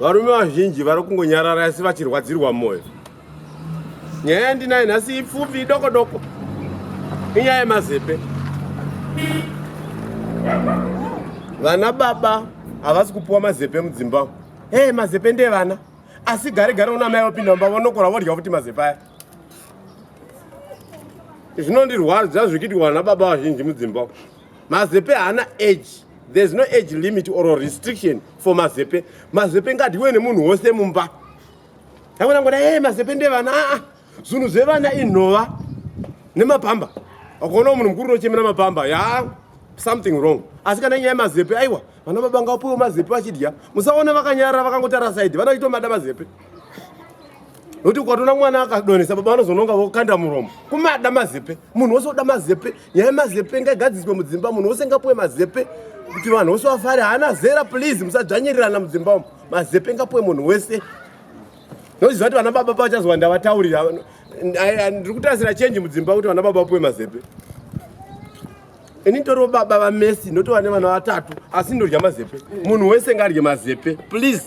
varume vazhinji vari kungonyarara asi vachirwadzirwa mwoyo nyaya yandinayo nhasi ipfupi idoko doko inyaya yemazepe vana baba havasi kupiwa mazepe mudzimba hey mazepe ndevana asi gare gare una mai vapinda mumba vanokora vodya futi mazepe aya zvinondirwadza zvikiti vana baba vazhinji mudzimba mazepe haana age there's no age limit or restriction for mazepe mazepe ngadyiwe nemunhu wose mumba aona ngoda e mazepe ndevana aa ah, zvinhu zvevana inhova nemapamba akaona munhu mukuru unochemera mapamba ya something wrong asi kana nyaya yemazepe aiwa vana baba ngawapiwe mazepe vachidya musaona vakanyarara vakangotara saidi vana vachitomada mazepe nokuti ukatoona mwana akadonesa baba vanozononga vokanda muromo kumada mazepe munhu wose oda mazepe nyaya yemazepe ngaigadziswe mudzimba munhu wose ngapuwe mazepe kuti vanhu vose vafare haana zera please musadzvanyirirana mudzimba umu mazepe ngapuwe munhu wese noziva kuti vana baba pavachazova ndavataurira ndiri kutarasira chenji mudzimba kuti vana baba vapuwe mazepe ini toriwo baba vamesi ndotova nevana vatatu asi ndodya mazepe munhu wese ngaadye mazepe please